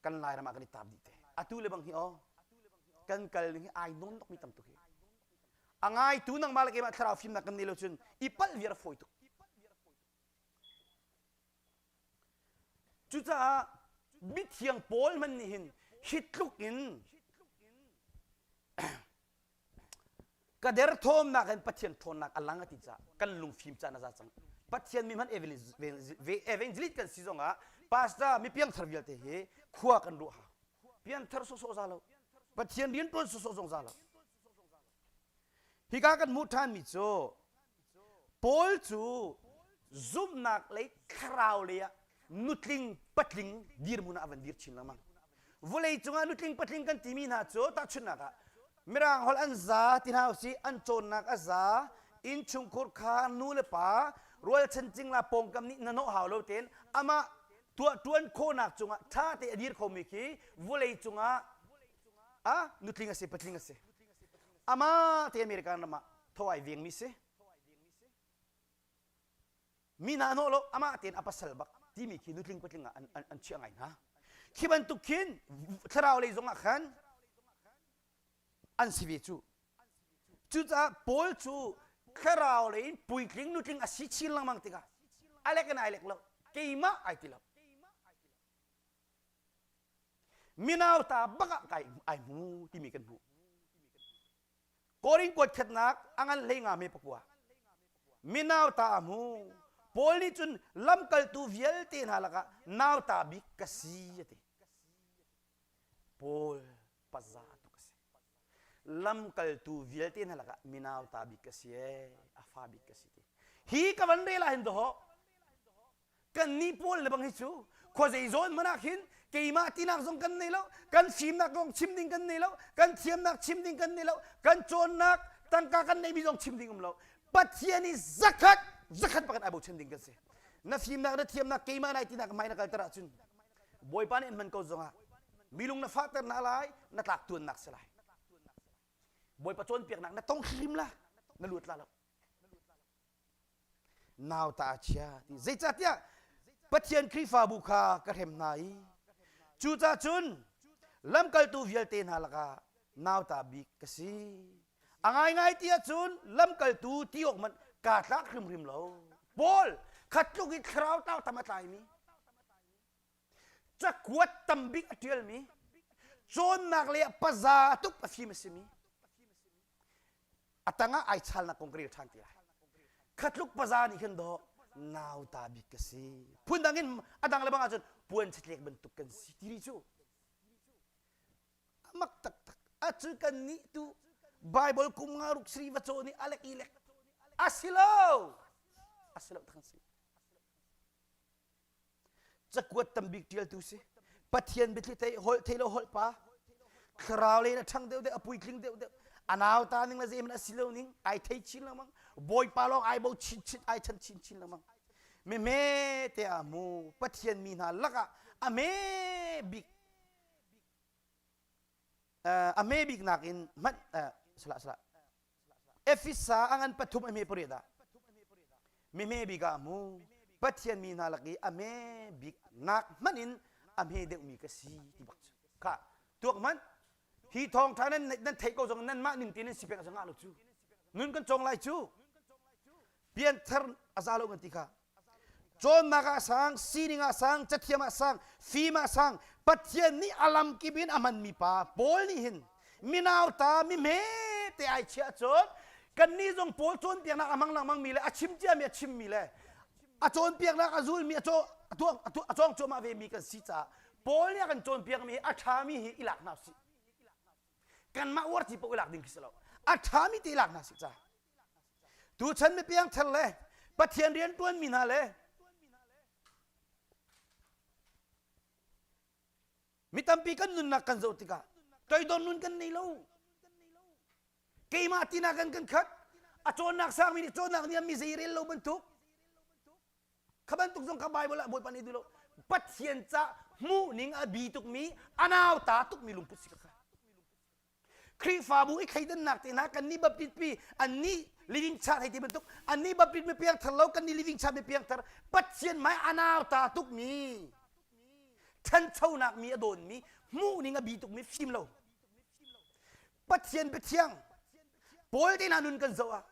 Speaker 1: kan lairam ah kan i taap dih te atu le bang hi o kan kal ning hi ai nawn tuk mi tam tuk hi a ngaitu nangmah le keimah thlarau fimnak kan nei lo cun i pal viar fawi tuk Cucaah mithiang Paul hmanh nih hin hi tluk in ka derthawmnak in Pathian ṭhawnnak a lang a ti caah kan lungfim caan a za cang. Pathian mi hmanh evangelist kan si zongah pastor mi piangthar vialte hi khua kan ruah ha. Pianthar sawhsawh za lo. Pathian rianṭuan sawhsawh zong za lo. Hika kan hmuh ṭhanmi cu Paul cu zumhnak lei thlarau lei ah nutling patling dirhmun ah a van dir chin lengmang. Vawlei cungah nutling patling kan timi hna cu tahchunhnak ah Mirang holh an za ti hna usih an cawnnak a za innchungkhur kha nu le pa rualchan cingla pawngkam nih na nawh hau lo tein amah tuahṭuan khawhnak cungah ṭha te a dir khomi khi vawlei cungah ah nutling a si patling a si amah te american ram ah thawai veng mi si mi na hnawh lo amah tein a pasal bak timi khi nutling patling ah an, an, an chiah ngai hna khi bantuk khin thlarau lei zong ah khan an si ve cu cucaah paul cu thlarau lei in puitling nutling a si chin lengmang tikah alek in ai lek lo keimah ai ti lo Minau ta bak ah kai ai hmu timi kan hmuh. Korin kuat khatnak a ngan hlei nga me pakua. Minau ta a hmu. Paul nih cun lamkaltu vialte hna lakah nau ta bik ka si a ti. Paul paza tuk a si. Lamkaltu vialte hna lakah minau ta bik ka si ee, a fa bik ka si ti. Hi ka van rel ah hin doh kannih pawl lebang hi cu khuazei zawn hmanh ah khin keimah tinak zong kan nei lo kan fimnak zong chim ding kan nei lo kan thiamnak chim ding kan nei lo kan cawnnak tangka kan neihmi zong chim ding um lo pathian i zakhat zakhat pakhat ai bochan ding kan si na fimnak na thiamnak keimah nai tinak mai na kalter ahcun bawipa nih hman ko zongah milung na fahter na lai na tlak tuannak si lai bawipa cawnpiaknak na tong hrim la na luat la lo nauta a chia ti zeicahtiah Pathian Khrihfabu kha ka hrem hna i cucacun lamkaltu vialte hna lakah nauta bik ka si a ngaingai ti ahcun lamkaltu ti awk hmanh kaa tlak hrimhrim lo Paul kha tluk i thlarau tau tam a tlaimi cakuat tam bik a ṭialmi cawnnak le paza a tuk a fim a simi a tangah ai chalnak kong ka rel ṭhan te lai khatluk paza nih khin daw nauta bik ka si phun dang in a dang lebang ahcun puan chitlek bantuk kan si tiri cu a mak taktak a cu kan nih tu bible kum nga ruk sri va caw nih alek ilek asilo asilo thang si cakuat tambik ṭialtu si pathian biathli thei holh thei lo holh pa thlarau le na ṭhang deuh deuh a puitling deuh deuh a nau ta ning le zeiman a si lo ning ai thei chin lo mang bawipa lawng ai bo chin chin ai chan chin chin lo mang me me te a mu pathian mi hna lakah a me bik uh, a me bik nakin hmanh uh, sala sala Efesa ang an pathum a hme pariat ah mi hme bik ah mu Pathian mi hna lak i a hme bik ngak hmanh in a hme deuhmi ka si ti bak cu ka tuak hmanh hi thawngṭha nan nan theih ko zong nan mah ning tein nan si pek a sangah lo cu nun kan cong lai cu pian thar a za lo kan ti kha Cawnnak ah sang, sining ah sang, cathiam ah sang, fim ah sang, Pathian nih a lamkip in a hmanmi pa Paul nih hin minauta mihme te ai chiah cun kannih zong Paul cawnpiaknak a hmang lengmangmi le a chim ciami a chimmi le a cawnpiaknak a zulmi a cawng cuahmah vemi kan si caah Paul nih a kan cawnpiakmi hi a ṭhami hi i lak hna sih kanmah uarthi paoh i lak ding khi si lo a ṭhami te i lak hna sih caah Tuchan mi piangthar le Pathian rian ṭuanmi hna le mi tampi kan nunnak kan zoh tikah toidor nun kan nei lo. Keimah tinak in kan khat. A cawnnak sangmi nih cawnnak nih mi zei rel lo bantuk. Kha bantuk zong ka Bible ah Bawipa nih duh lo. Pathian ca hmuhning a bi tukmi, a nauta tukmi lungput si ka kha. Khrihfabu i thleidannak te hna kan nih bapitpi annih living chart hei ti bantuk annih bapit mi piangthar lo kan nih living chart mi piangthar pathian mai anau ta tuk mi thanchonak mi a dawn mi hmuh ning a bi tuk mi fim lo pathian biathiang paul te hna nun kan zoh ah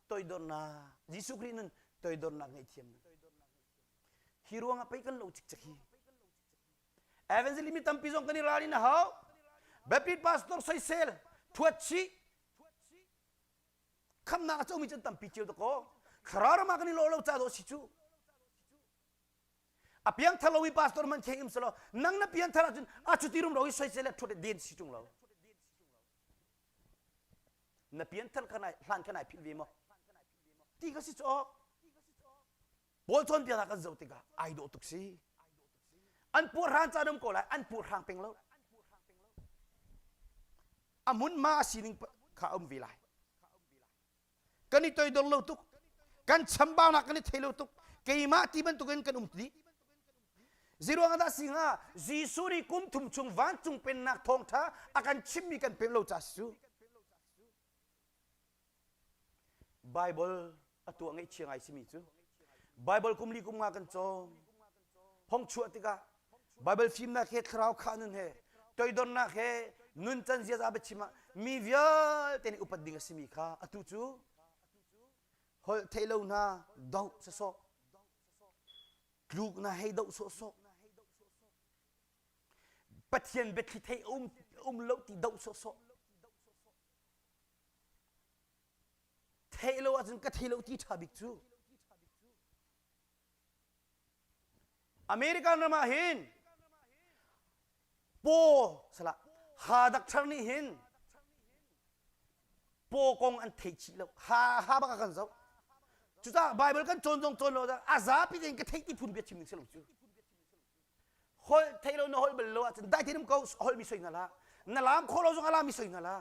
Speaker 1: toidornak jesuh khrih nun toidornak ngei thiam hi ruang ah pei kan lo cikcek hi evangelism mi tampi zong kan i ral in a hau baptist pastor soisel thuat chih khamnak a comi can tampi ceu dakaw thlarau ram ah kan i lo lo ca dawh si cu a piang thalo i pastor man kheng im salo nang na pian thar ahcun a cuti rum ro i soisel le thuat den si chung lo na pian thar kan ai hlan kan ai phil ve mo ti ka si cok Paul cawnpiaknak kan zoh tikah ai dawh tuk si. An puahhraan ca dam ko lai, an puahhrang peng lo. A hmunma a sining kha a um ve lai. Kan i toidor lo tuk. Kan chambaunak kan i thei lo tuk. Keimah ti bantukin kan um dih. Ziruang ada si hnga Jesuh nih kum thum chung vancung pennak thawngtha a kan chimmi kan pem lo ca cu Baibal a tuah ngaihchia ngai simi cu Baibal kum li kum nga kan cawm. Phongchuah tikah Baibal fimnak he thlarau khah nun he toidornak he nun can ziaza biachim ah mi vialte nih upat ding a simi kha atu cu holh theih lo hna doh sawsawh tluk na hei doh sawhsawh Pathian biathli thei a um, um lo ti doh sawhsawh. Theih lo ahcun ka thei lo ti ṭha bik cu. American ram ah hin paw sala ha dak thar nih hin paw kong an thei chih lo ha ha bak a kan zoh cucaah Bible kan cawn zong cawn lo a zapi tein ka theih ti phun bia chim ning si lo cu holh thei lo na holh bal lo ahcun dai theinum ko holh mi soi ngala na lam kho lo zong ala mi soi ngala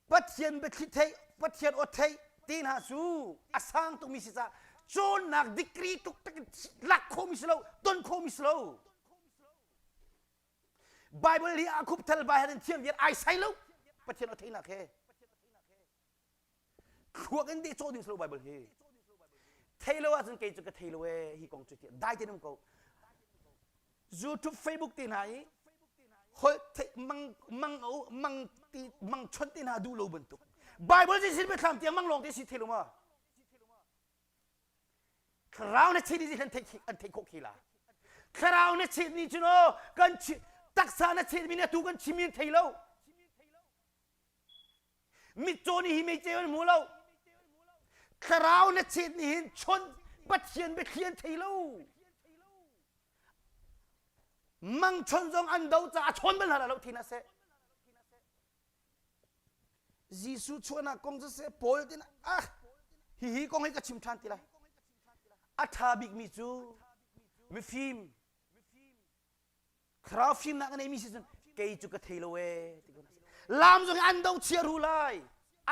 Speaker 1: pathian bethli thei pathian ot thei ti hna cu a sang tuk mi si ca cawnnak degree tuk tak lak kho mi si lo ton kho mi si lo bible hi a khup thal ba hen thiam viet ai sai lo pathian ot thei nak he thluak in dehcawh ding si lo Bible hi thei lo ahcun kei cu ka thei lo ee hi kong cu ti dai te nam ko YouTube Facebook ti hna i hol mang mang mang ti mang chon ti hna duh lo bantuk Bible ji sin me thlam tiang mang long ti si thei lo ma thlarau na thi ni an thei an thei khok khi la thlarau na thi ni chu no kan taksa na thi mi na tu kan chim in thei lo mitcaw nih hi meicew an hmu lo thlarau na chet nih hin chawnh pathian biathlian thei lo mangchon zong an do caah chawn bal hlah lo thin a seh Jesuh chuahnak kong cu seh Paul tin ah hi hi kong hi ka chim than ti lai a tha bikmi cu mifim thlarau fimnak a neimi si cun kei cu ka thei lo ee ti ko lam zong hi an do chia ru lai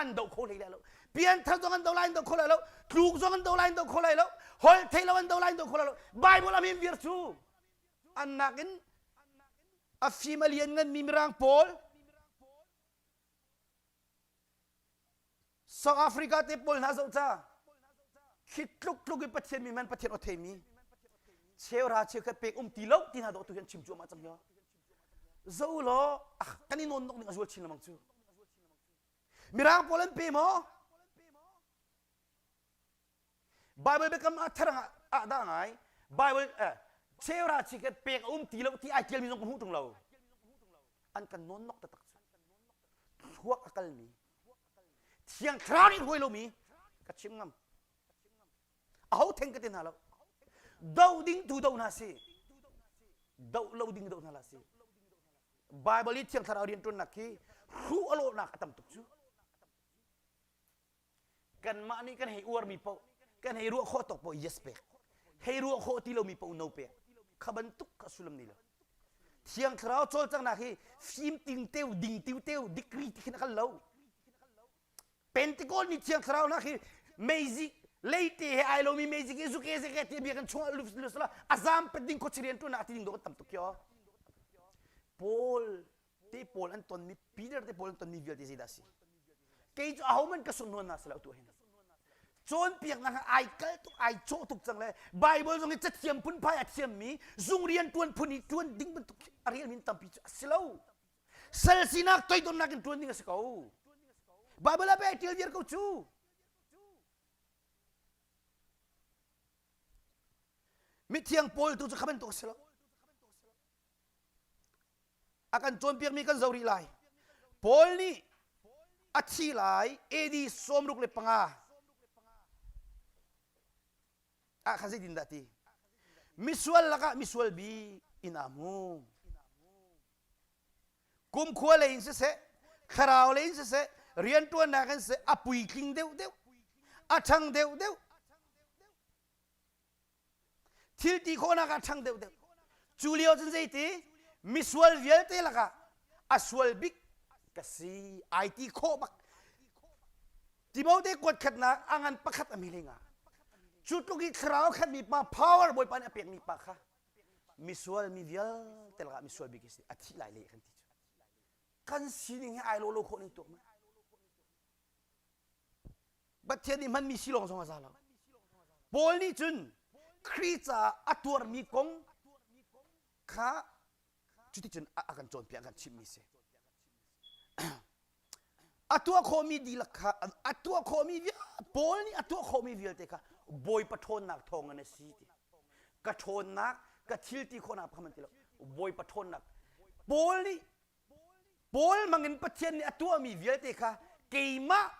Speaker 1: an do kho hlei lai lo pianthar zong an do lai an do kho lai lo tluk zong an do lai an do kho lai lo hol thei lo an do lai an do kho lai lo bible a min vir cu an nakin a fim a lian nganmi mirang pawl South Africa te pawl hna zoh ca khi tluk tluk in Pathian mi man Pathian aw theimi cheura cheukhat pek um ti lo ti hna doh tu hian chim cuahmah cang hia zo law ah kan i nawn nok ning a zual chin lamang cu mirang pawl an pe maw Bible biakam ah therang ah dah ngai Bible eh, Sarah ci kan pek a um ti lo ti ai tialmi zong ka hmuh ṭung lo an kan nawn nok taktak cu thluak a kalmi thiang thlarau nih hruai lomi ka chim ngam aho theng ka te hna lo do ding tu do hna si do lo ding do hna la si Bible i thiang thlarau rianṭuannak hi hruh a lawhnak a tam tuk cu kanmah nih kan hei uarmi paoh kan hei ruah khawh tawk paoh yes pek hei ruah khawh ti lomi paoh no pek kha bantuk kha sullam nei lo thiang thlarau cawlcanghnak hi fim ting teu ding teu teu degree ti khin khan lo Pentecost ni thiang thlarau hna khi meizik leite he ai lomi meizik hi zuke zeke ti bia kan chung lusla azam pe ding khochirian tu na ati ding do kan tam tuk kyo Paul te pawl an ton mi Peter te pawl an ton mi vialte zeidah a si kei cu aho man ka sunhnuan na si lo tu hin cawnpiaknak ai kal tuk ai cawh tuk cang le Bible zong hi cathiam phunphai a thiam mi zung rian tuan phun i tuan ding bantuk a rian min tampi cu a si lo sal sinak toidornak in tuan ding a si ko Bible ah pe ṭial viar ko cu mithiang paul tu cu kha bantuk a si lo a kan cawnpiakmi kan zo rih lai paul nih a thi lai AD sawmruk le panga ah khan zeitin dah ti misual lakah misual bi in amu kumkhua lei in siseh thlarau lei in siseh rianṭuannak in siseh a puitling deuh deuh a ṭhang deuh deuh Thil ti khawhnak ah ṭhang deuhdeuh. Cu lio cun zeiti misual vialte lakah a sual bik ka si ai ti khawh bak. Timote kuat khatnak a ngan pakhat a mi lenga. Cu tluk i thlarau khatmi pa power bawipa nih a pekmi pa kha misual mi vialte lakah misual bik a si a thih lai le kan ti cu. Kan sining hi ai lo lo khawh ning tuah mu. Pathian nih hmanmi si lawng zong a za lo. Paul nih cun Khrih caah a tuarmi kong kha cuticun a kan cawnpiak, a kan chimhmi si. a tuah khawhmi dihlak kha a tuah khawhmi Paul nih a tuah khawhmi vialte kha Bawipa ṭhawnnak thawngin a si ti. Ka ṭhawnnak ka thil ti khawhnak kha man ti lo. Bawipa ṭhawnnak. Paul nih Paul hmangin Pathian nih a tuahmi vialte kha keimah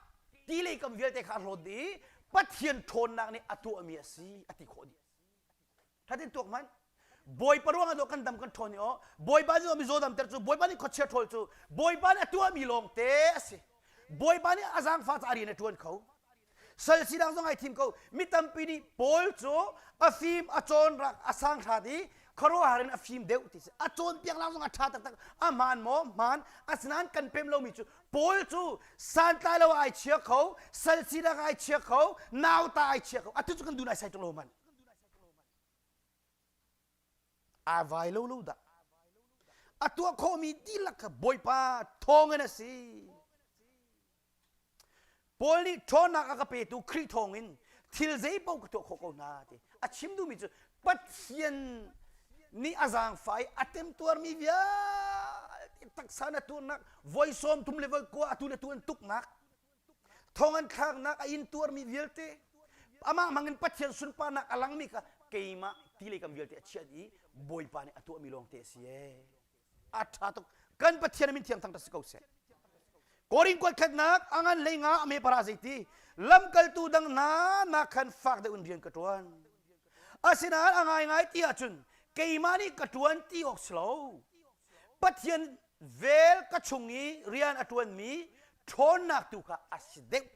Speaker 1: ti lei kam vialte kha a hlawn dih i Pathian ṭhawnnak nih a tuahmi a si a ti khawh dih. Thatin tuak hmanh. Bawipa ruangah daw kan dam kan ṭhawn i aw Bawipa nih mi zaw damter cu Bawipa nih khuachia ṭhawl cu Bawipa nih a tuahmi lawngte a si. Bawipa nih a zaangfah caah rian a ṭuan kho. sal sinak zong ai thim ko mi tampi nih paul cu a fim a cawn rak a sang hrat i khuaruahhar in a fim deuh ti si a cawnpiaknak zong a ṭha taktak a hmaan maw hmaan asinain kan pem lomi cu paul cu santlai lo ai chia kho sal sinak ai chia kho nauta ai chia kho atu cu kan dun ai sai tuk lo man ai vai lo lo dah a tuah khawhmi dihlak kha bawipa thawng in a si Paul nih ṭhawnnak a ka petu Khrih thawngin thil zeipaoh ka tuah khawh ko hna ti a chim duhmi cu Pathian nih a zaangfah i a temtuarmi vialte taksa na tuarnak voi sawm thum le voi kua atu le atu an tuknak thong an thlaknak a in tuarmi vialte amah hmangin Pathian sunparnak a langmi kha keimah ti lei kam vialte a chiat i Bawipa nih a tuahmi lawngte a si ee. a ṭha tuk kan pathian min thiang thang ṭa si ko seh korin kuat khatnak a ngan hlei nga a me para zeiti lamkaltu dang hna nak khan fak deuh in rian ka ṭuan asinain a ngai ngai ti ahcun keimah nih ka ṭuan ti awk si lo pathian vel ka chung i rian a ṭuanmi ṭhawnnak tu kha a si deuh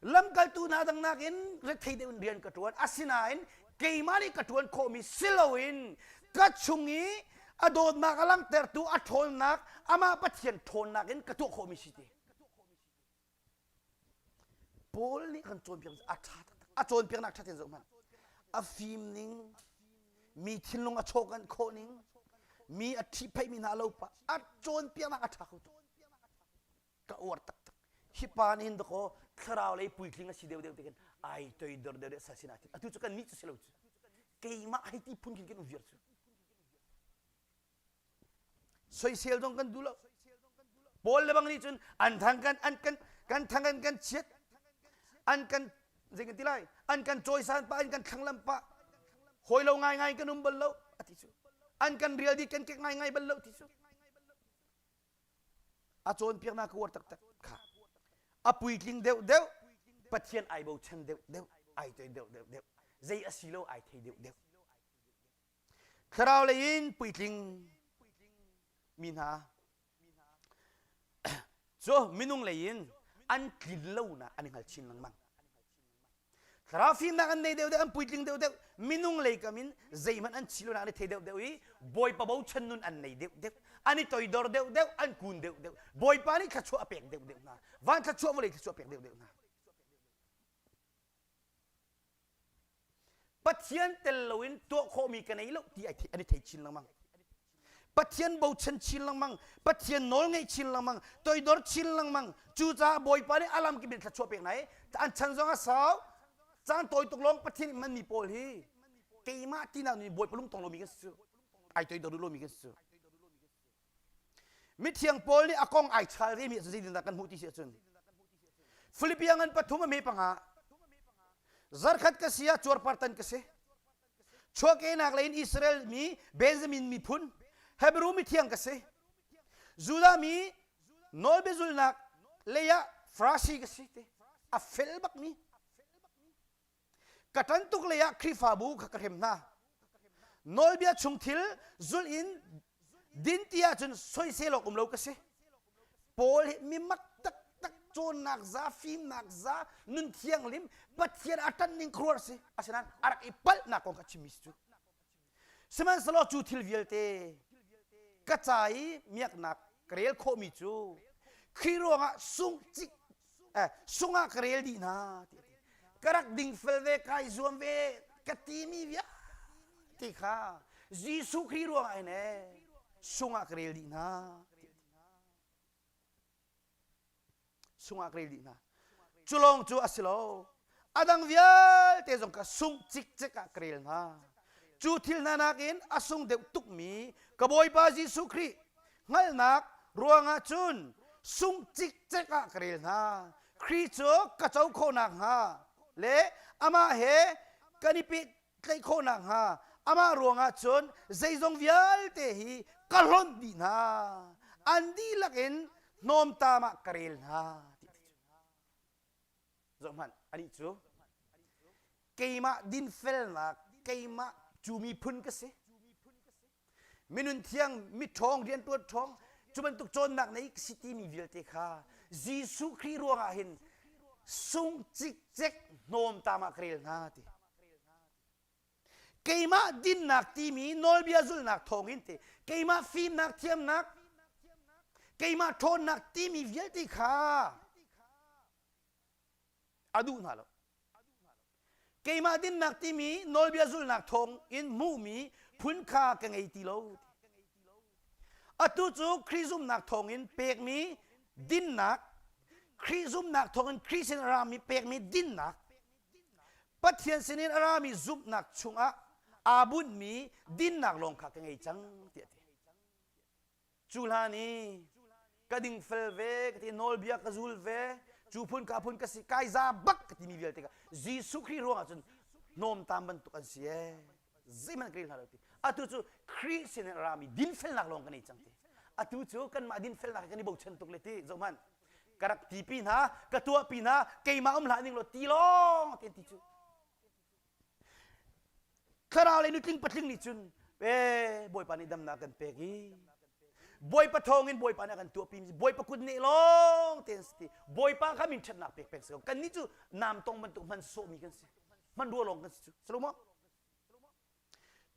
Speaker 1: lamkaltu hna dang nakin rethei deuh in rian ka ṭuan asinain keimah nih ka ṭuan khawhmi si loin ka chung i a dawtnak a langhtertu a ṭhawnnak amah Pathian ṭhawnnak in ka tuah khawhmi si ti Paul nih kan cawnpiak a ṭha a cawnpiaknak ṭha tein zoh hmanh a fim ning mi thinlung a chawkan khawh ning mi a ṭhipheihmi hna lo a cawnpiaknak a ṭha kho ka uar taktak hi pa nih hin dakaw thlarau lei puitling a si deuh deuh te khin ai toi dor deuh deuh sa sin atin atu cu kan nih cu si lo cu keimah hai ti phun khin kan um viar cu soisel dong kan du lo paul le bang nih cun an thang kan an kan kan thang an kan chiat an kan zei kan ti lai an kan cawisan pa an kan thlanglam pa hoi lo ngai ngai kan um bal lo ati cu an kan real di kan kek ngai ngai bal lo ti cu a cawnpiaknak ka uar taktak kha a puitling deuhdeuh pathian ai bochan deuhdeuh ai toi deuhdeuhdeuh zei asi lo ai thei deuhdeuh thlarau lei in puitling mi hna cu minung lei in an tlin lonak an i hngal chin lengmang Thlarau fimnak an nei deuh deuh, an puitling deuh deuh. Minung lei kam in zeihmanh an thi lonak an i thei deuh deuh i Bawipa bochan nun an nei deuh deuh. An i toidor deuh deuh, an kun deuh deuh. Bawipa nih thluachuah a pek deuh deuh hna. Van thluachuah vawlei thluachuah a pek deuh deuh hna. Pathian tel loin tuah khawhmi ka nei lo ti an i thei chin lengmang. Pathian bochan chin lengmang, Pathian nawl ngaih chin lengmang, toidor chin lengmang. Cucaah Bawipa nih alam kip in thla chuah pek hna i an chan zong a sau. Caan tawi tuk lawng Pathian in manmi pawl hi keimah tinak nih Bawipa lungtong lomi kan si cu, ai toidor lomi kan si cu. Mithiang Paul nih a kong ai chal remi ah zeitindah kan hmuh ti si ahcun Philippi ngan pathum a me panga zarkhat ka si ah cuarpartan ka si chuahkehnak leiin Israel mi Benjamin miphun Hebrew mithiang ka si Judah mi nawlbia zulnak leiah Farasi ka si te a fel bak mi ka tan tuk leiah Khrihfabu kha ka hrem hna nawlbia chung thil zulh in din ti ahcun soiselawk um lo ka si paul hi mimat taktak cawnnak za fimnak za nun thianghlim pathian a tan ning khuar si asinain a rak i palhnak kong ka chimmi si cu sihmanhsehlaw cu thil vialte ka ca i miaknak ka rel khawhmi cu khi ruangah sung cik eh, sungah ka rel dih na ti ka rak ding fel ve kai zuam ve ka ti mi via ti kha Jesuh Khrih ruang ai ne sungah ka rel dih na sungah ka rel dih na culong cu a si lo a dang vialte zong kha sung cikcek ah ka rel hna cu thil hna nakin a sung deuh tukmi ka bawipa jesuh khrih hngalhnak ruangah cun sung cikcek ah ka rel hna khrih cu ka co khawh nakhnga le amah he kan i pehtlaih khawh nakhnga amah ruangah cun zeizong vialte hi ka hlonh dih hna an dihlak in hnawmtam ah ka rel hna zohhmanh anih cu keimah dinfelnak keimah cu miphun ka si minun thiang miṭhawng rianṭuan ṭhawng cu bantuk cawnnak nei ka si timi vialte kha Jesuh Khrih ruangah hin sung cikcek hnawm tama ka rel hna ti keimah dinnak timi nawlbia zulnak thawngin ti keimah fimnak thiamnak keimah ṭhawnnak timi vialte kha a duh hna lo keimah dinnak timi nawlbia zulnak thawng in hmuhmi phun kha ka ngei ti lo atu cu Khrih zumhnak thawngin pekmi dinnak Khrih zumhnak thawngin Khrih sin a rami pekmi dinnak Pathian sinin a rami zumhnak chungah aa bunhmi dinnak lawng kha ka ngei cang tiah a ti. cu hlan i ka ding fel ve ka ti nawlbia ka zul ve cu phun ka phun ka si kai za bak ka timi vialte kha Jesuh Khrih ruangah cun nawmtam bantuk an si ee zeihmanh ka ril hna lo ti atu cu Khrih sin in rami dinfelnak lawng kan ei cang ti atu cu kanmah dinfelnak he kan i bochan tuk le ti zohmanh ka rak tipi hna ka tuahpi hna keimah um hlah ning law ti lawng ti an ti cu Thlarau lei nutling patling nih cun ee Bawipa nih damnak kan pek i Bawipa thawngin Bawipa nih a kan tuahpi Bawipa kut neh lawng te an si ti Bawipa kha min ṭhatnak pek peng si ko kannih cu nam tong bantuk hman sawhmi kan si hmanrua lawng kan si cu salu maw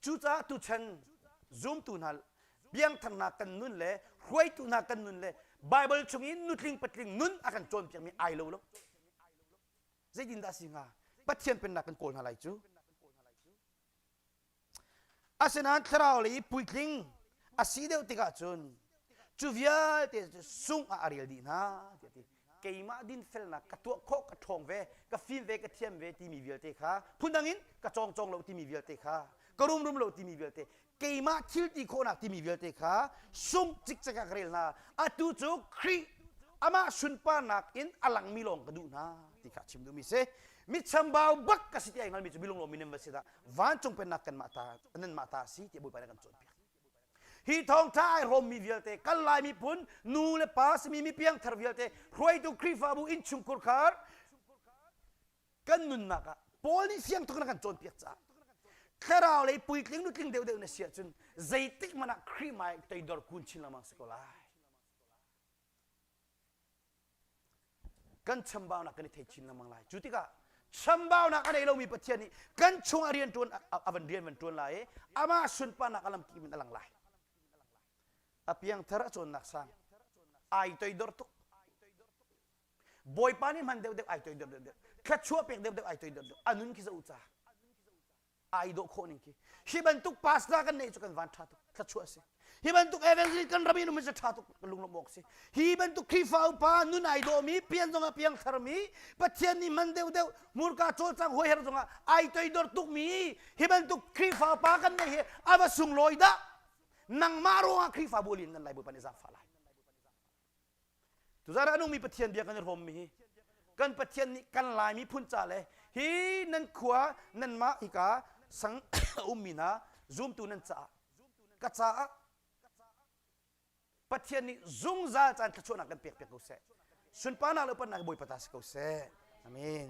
Speaker 1: cucaah tuchan zumtu hna biangthangnak kan nun le hruaitu hna kan nun le Baibal chungin nutling patling nun a kan cawnpiakmi ai lo lo Zeitindah a si hnga? Pathian pennak kan kawl hna lai cu. Asinain thlarau lei i puitling a si deuh tikah cun cu vialte cu sungh ah a rel dih hna tiah ti keimah dinfelnak ka tuah khawh ka ṭhawng ve ka fim ve ka thiam ve timi vialte kha phundang in ka cawngcawng lo timi vialte kha ka rumrum lo timi vialte keimah thil ti khawhnak timi vialte kha sung cikcek ah ka rel hna atu cu Khrih amah sunparnak in a langmi lawng ka duh hna ti kha chim duhmi si mitchambau bak ka si ti ai ngalmi cu bilung lo minem va si dah vancung pennak kanmah ta nanmah ta si ti bawipa nih kan cawnpiak hi thawngtha ai rawmmi vialte kal lai miphun nu le pa simi mi piangthar vialte hruaitu Khrihfabu innchungkhur khar kan nunnak ah Paul nih fiang tuk in a kan cawnpiak caah thlarau lei puitling nutling deuhdeuh na si ahcun zeitik hmanh ah Khrih hmai teidor kun chin lengmang si ko lai kan chambaunak kan i thei chin lengmang lai cu tikah chambaunak a nei lomi pathian nih kan chung a rian ṭuan a van rian van ṭuan lai i amah sunparnak a lamkim in a lang lai a piangthar a cawnnak sang ai toidor tuk Bawipa nih man deuhdeuh ai toi deuhdeuh thluachuah pek deuhdeuh ai toi deuhdeuh anun khi za u ca ai dawh khawh ning khi hi bantuk pastor kan neih cu kan van tha tuk thluachuah si hi bantuk evangelist kan ram in um se tha tuk lunglawm awk si hi bantuk Khrihfa upa nun ai dawhmi pian zong ah piang tharmi Pathian nih man deuhdeuh hmurka cawlcang hoi har zong ah ai toi dor tukmi hi bantuk Khrihfa upa kan neih hi ava sunglawi dah nangmah ruangah Khrihfa bu lin nan lai bupa nih zafa lai Tuzarah a nungmi Pathian bia kan i rawmmi kan Pathian nih kan Lai miphun ca le hi nan khua nanmah hika sang a ummi hna zumtu nan caah ka caah Pathian nih zungzal caan thluachuahnak kan pek piak ko seh sunparnak le upatnak Bawipa ta si ko seh amen